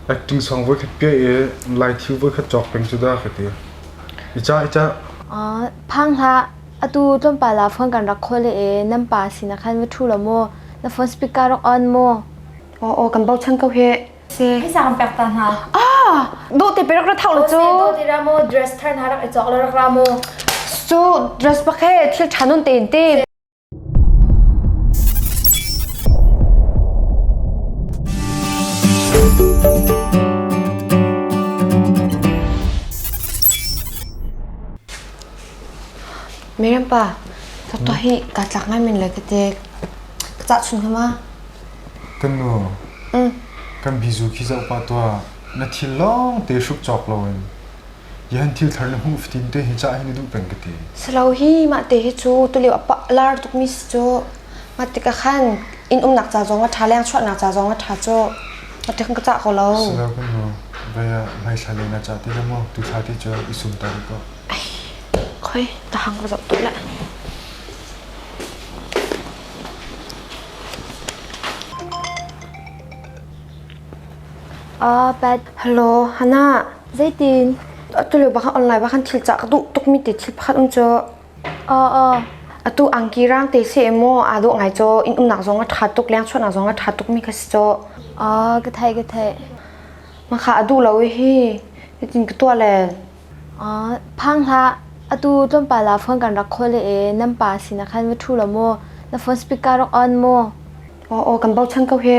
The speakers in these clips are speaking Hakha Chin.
Acting song voikhat piah i laithiu voikhat cawk peng cu dah ka ti. I cah, i cah. Uh, phang hlah. Atu tlawmpal ah phone kan rak khawl le e, nan pa sin ah khan va ṭhu law mu. Na phone speaker rak on mu. Aw, aw, kan bochan ko hih. Si. Hisa kan pek ta hna. Ah! Duh ti pe rak ra thau lo cu. Du ti ra mu, dress thar hna rak i cawk lo rak ra mu. Cu dress pa khe thil ṭha nun te in ti. Mirempa, ka tua hi ka tlak ngai min le ka te ka cah sun hama. Kan nu, Mm. kan bizu khi za upa tua na thil long te hruk cawk lo in Yan thil thar na hmuh fatin te hi ca hi na duh peng ka ti. Salo hi mah te hi cu tulio apa lar tukmi si cu mah tikah khan in umnak ca zong a tha leng chuahnak ca zong a tha cu mah tikhan ka cah ko lo. Salo kan ho vaya mai thla le na ca ti le mu tu thla ti cu i sum ta ko. Khoi ta hang ka zot to la. Ah, Pat. Hello, Hannah. Zeitin? Atu lio bak online bak khan thil cah ka duh tukmi te thil pakhat um cu atu angki raang te si emaw aa dawh ngai cu inn umnak zong a ṭha tuk, leng chuahnak zong a ṭha tukmi kha si cu. Ka theih, ka theih. Mahka a duh lo i hi hitin ka tuah len. Phang hlah, atu tlawmpal ah phone kan rak khawl i nan pa sinah khan va ṭhu law mu, na phone speaker rak on mu. Kan bochan ko hi.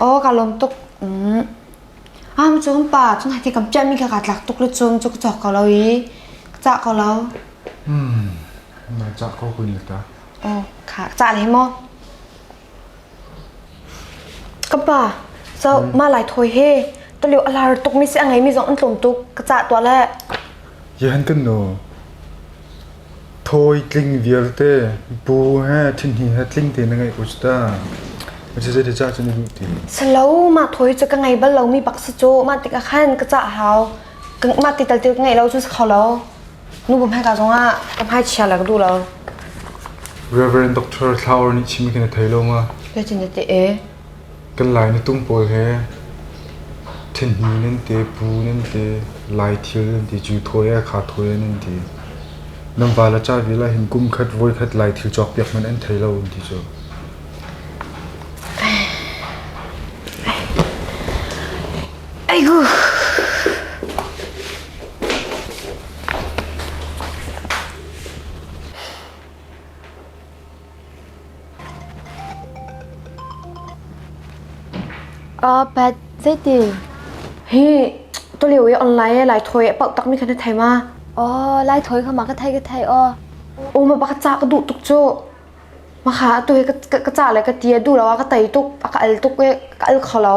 Aw ka lawm tuk. Am cun pa cun hati kam ṭiahmi kha kaa tlak tuk le cun cu ka cawk ko lo i ka cah ko lo. Na cah ko kun ta. Aw kha cah le maw. Ka pa, so ma lai thawi he, ka liu a lar tuk mi si a ngeimi zong an tlawm tuk. Ka cah tuah le. Ziahan kan nu, thawi tling vialte bu he thinhi he tling te na ngeih ko cu ta. Zei ti cah cun i duh ti. Salo mah thawi cu ka ngei bal lo mi pak si cu mah tik ah khan ka cah hau. Mah ti tal ti ka ngei lo cun si kho lo. Nu bum hai ka zong ah ka hmai chia la ka duh lo. Reverend Doctor Thlau nih chim khi na thei lo ma? Pe ti na te e. Kan Lai na tung pawl he thenhni nan te, pu nan te, Lai thil nan ti, Jew thawi le Kha thawi nan ti. Nan val a cah vial ahhin kum khat, voi khat Lai thil cawk piak hmanh an thei lo an ti cu. Aiku! Pet zeiti hi tulio i online e lai thawi a pauh takmi kha na thei ma? Aw lai thawi kha ma ka thei ka thei aw. U ma pa ka ca ka duh tuk cu. Ma kha atu hi ka ca le ka ti a duh lo a ka tei tuk a ka al tuk i ka al kho lo.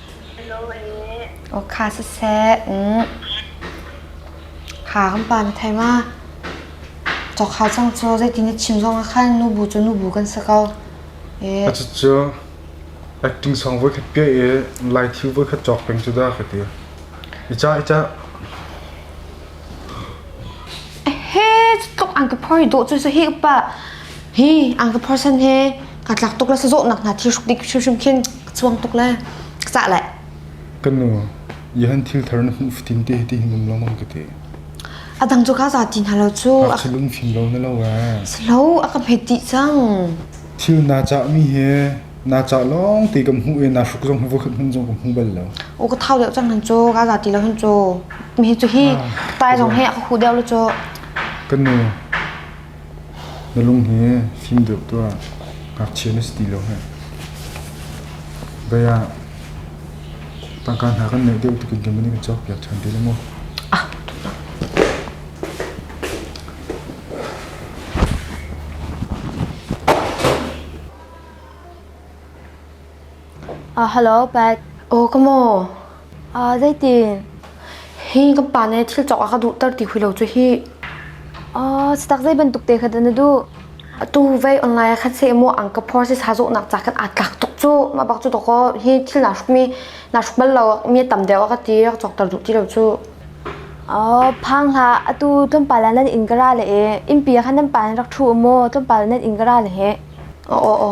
Awkha siseh, kha kan pa na thei ma? Awkha cang cu zeitin na chim zong ah khan nubu cu nubu kan si ko. Cucu acting song voikhat ke i lai thil voikhat cawk peng cu dah ka ti. I ca, i ca. He, tluk ang ka phoi dawh cu sa hi upa. Hi, ang ka phoi san he. ka tlak tuk le sazawh nak hna thi hruk dik hrimhrim khin ka chuang tuk le ka cah le kan nu yahan thil thar na hmuh fitin te ti num long ka te adang chu ka za tin halo chu a lung fin lo na lo wa slow a ka phe ti chang thil na cha mi he na cha long te kam hu e na hruk zong hu khat hun zong kam hu bal lo o ka thau deu chang han chu ka za ti lo hun chu mi chu hi tai zong he a hu deu lo chu kan nu Na lung hi fim deuh tuah, ngakchia na si ti lo hih. Bei ah tangka hna kan neih deuh tukin keimah nih kan cawkpiak ṭhan te le maw? Hello Pat. Aw ka maw. Uh, zeitin? Hi kan pa nih thil cawk a ka duhter ti hui lo cu hi. Uh, setak zei bantuk te kha na duh? Tu vei online khat se mo ang ka phor se sa zo nak cha kan at lak tuk cu. Ma bak cu to ko hi thil na suk mi na suk bal lo mi tam de ka ti ka cawk ter duh ti lo cu. Oh, phang hla atu tlom pa la nan in gara le e. In pia khan nan pa rak thu mo tlom pa nan in gara le he. О, о, о.